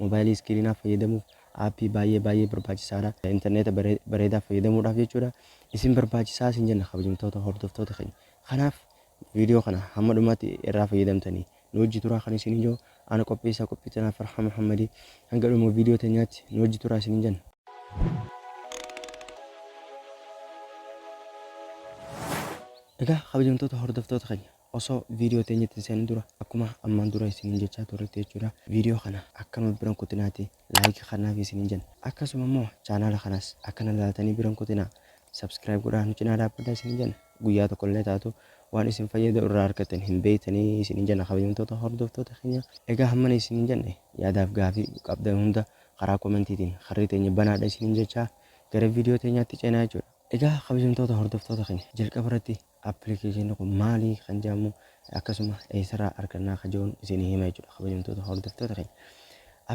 Mobaayilii iskiriinaa fayyadamuuf aappii baay'ee baay'ee barbaachisaadha. Interneeta bareedaa fayyadamuudhaaf jechuudha. Isin barbaachisaa isin jenna kabajamtoota hordoftoota keenya. Kanaaf viidiyoo kana hamma dhumaatti irraa fayyadamtanii nu wajji turaa kan isiniin jedhu ana qopheessaa qophii tanaa Farhaa Muhammadi. Hanga dhuma viidiyoo teenyaatti nu wajji turaa isiniin jenna. Egaa kabajamtoota hordoftoota keenya. Osoo video teenyatti hin seenin dura akkuma ammaan dura isiniin jechaa turretti jechuudha video kana akka nuuf biran kutinaati like kannaaf isiniin jenna akkasuma immoo chaanaala kanas akkana laaltanii biran kutinaa subscribe godhaa nu cinaa dhaabbadha isiniin jenna guyyaa tokko illee taatu waan isin fayyadu irraa argattan hin beeytanii isiniin jenna kabajamtoota hordoftoota keenya egaa hammana isiniin jenne yaadaaf gaafii qabdan hunda karaa komentiitiin karri teenya banaadha isiniin jechaa gara video teenyaatti ceenaa jechuudha egaa kabajamtoota hordoftoota keenya jalqaba irratti Application kun maalii kan jedhamu akkasuma eessarraa argannaa kan jedhuun isinii hima jechuudha kabajamtoota hordoftoota keenya.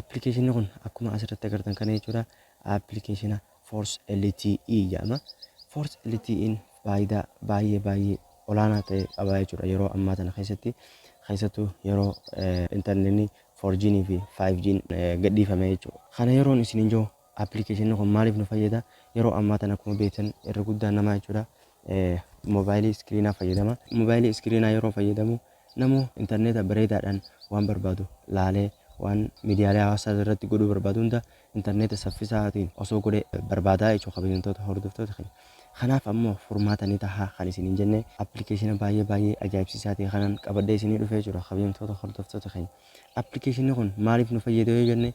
Application kun akkuma asirratti agartan kana jechuudha application Force LTE jedhama. Force LTE'n faayidaa baay'ee baay'ee olaanaa ta'e qaba jechuudha yeroo ammaa tana keessatti keessattuu yeroo intarneetni 4G'n fi 5G'n gadhiifame jechuudha. Kana yeroon isiniin jiru Application kun maaliif nu fayyada? Yeroo ammaa tana akkuma beektan irra guddaan namaa jechuudha moobaayilii iskiriinaa fayyadama. Moobaayilii iskiriinaa yeroo fayyadamu namu intarneeta bareedaadhaan waan barbaadu laalee waan miidiyaalee hawaasaa irratti godhuu barbaadu hunda intarneeta saffisaatiin osoo godhe barbaadaa jechuudha kabajamtoota hordoftoota keenya. Kanaaf ammoo furmaata ni taha kan isiniin jenne appilikeeshina baay'ee baay'ee ajaa'ibsiisaa ta'e kanaan qabadhee isinii dhufee jechuudha kabajamtoota hordoftoota keenya. Appilikeeshinni kun maaliif nu fayyada yoo jenne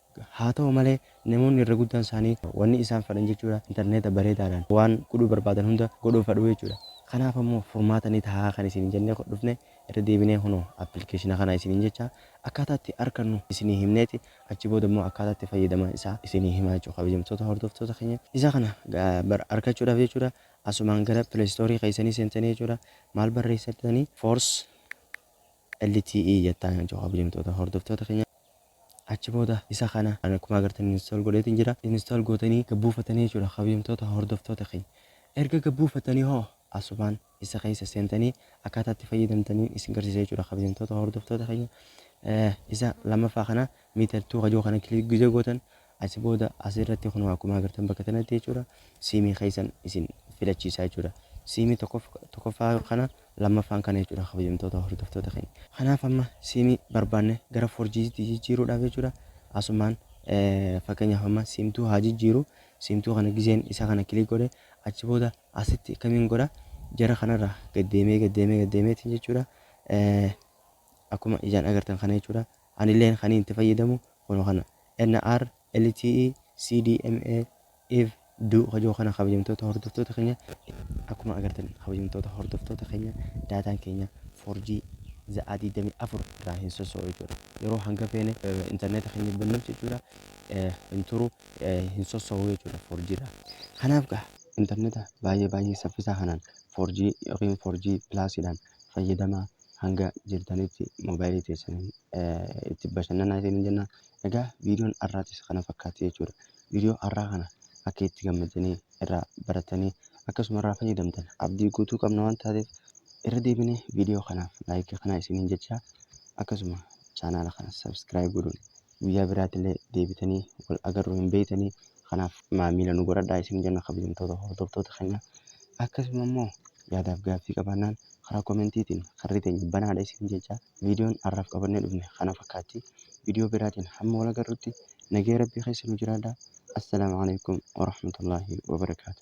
Haa ta'u malee, namoonni irra guddaan isaanii wanni isaan fadhan jechuudha interneeta bareedaadhaan waan godhuu barbaadan hunda godhuu fadhu jechuudha. Kanaaf ammoo furmaata ni tahaa kan isiniin jennee dhufne irra deebinee kunoo application kana isiniin jechaa akkaataa itti arkannu isinii himneeti achi booda immoo akkaataa itti fayyadaman isaa isinii himaa jechuudha kabajamtoota hordoftoota keenya. Isa kana bar arkachuudhaaf jechuudha asumaan gara play store keessanii seentanii jechuudha maal barreessatanii force LTE jettaan kan jawaabu jimtoota hordoftoota keenya. Achi booda isa kana ani akkuma agartan install godheetiin jira. Install gootanii gad buufatanii jechuudha kabajamtoota hordoftoota keenya. Erga gad buufatanii hoo asumaan isa keessa seentanii akkaataa itti fayyadamtaniin isin garsiisa jechuudha kabajamtoota hordoftoota keenya. Isa lammaffaa kana meter 2 kajoo kana click gizee gootan Asi booda as irratti kunoo akkuma agartan bakka tanatti jechuudha siimii keessan isin filachiisaa jechuudha. Siimii tokkoffaa kana lammaffaan kana jechuudha kabajamtoota hordoftoota keenya. Kanaaf amma siimii barbaanne gara 4G tti jijjiiruudhaaf jechuudha asumaan fakkeenyaaf amma siimtuu haa jijjiiru siimtuu kana gizeen isa kana kilik godhe achi booda asitti kamiin godha jara kanarra gaddeemee gaddeemee gaddeemeetiin jechuudha akkuma ijaan agartan kana jechuudha Anileen kaniin itti fayyadamu kuno kana NR LTE CDMA iv du ka jiru kana kabajamtoota hordoftoota keenya akkuma agartan kabajamtoota hordoftoota keenya daataan keenya 4G za'aa 24 irraa hin sosso'u jechuudha yeroo hanga feene intarneeta keenya bannuuf jechuudha hin turu hin sosso'u jechuudha 4G irraa kanaaf gaa intarneeta baay'ee baay'ee saffisaa kanaan 4G yookiin 4G pilaasiidhaan fayyadamaa hanga jirtanitti moobaayilii teessaniin itti bashannanaa isiniin jenna. Egaa viidiyoon har'aatis kana fakkaatti jechuudha. Viidiyoo har'aa kana akka itti gammaddanii irraa barattanii akkasuma irraa fayyadamtan abdii guutuu qabna waan taateef irra deebinee viidiyoo kanaaf laayikii kana isiniin jechaa akkasuma chaanaala kana sabiskiraayib godhuun guyyaa biraatilee deebitanii wal agarru hin beeytanii kanaaf maamiila nu godhadhaa isin jenna kabajamtoota hordoftoota keenya akkasuma immoo yaadaaf gaaffii qabaannaan karaa komentiitiin karri teenya banaadha isin jechaa viidiyoon arraaf qabannee dhufne kana fakkaatti viidiyoo biraatiin hamma wal agarrutti nagaya rabbii keessa nu jiraadhaa assalaamu aleykum warahmatullaahi wabarakaatu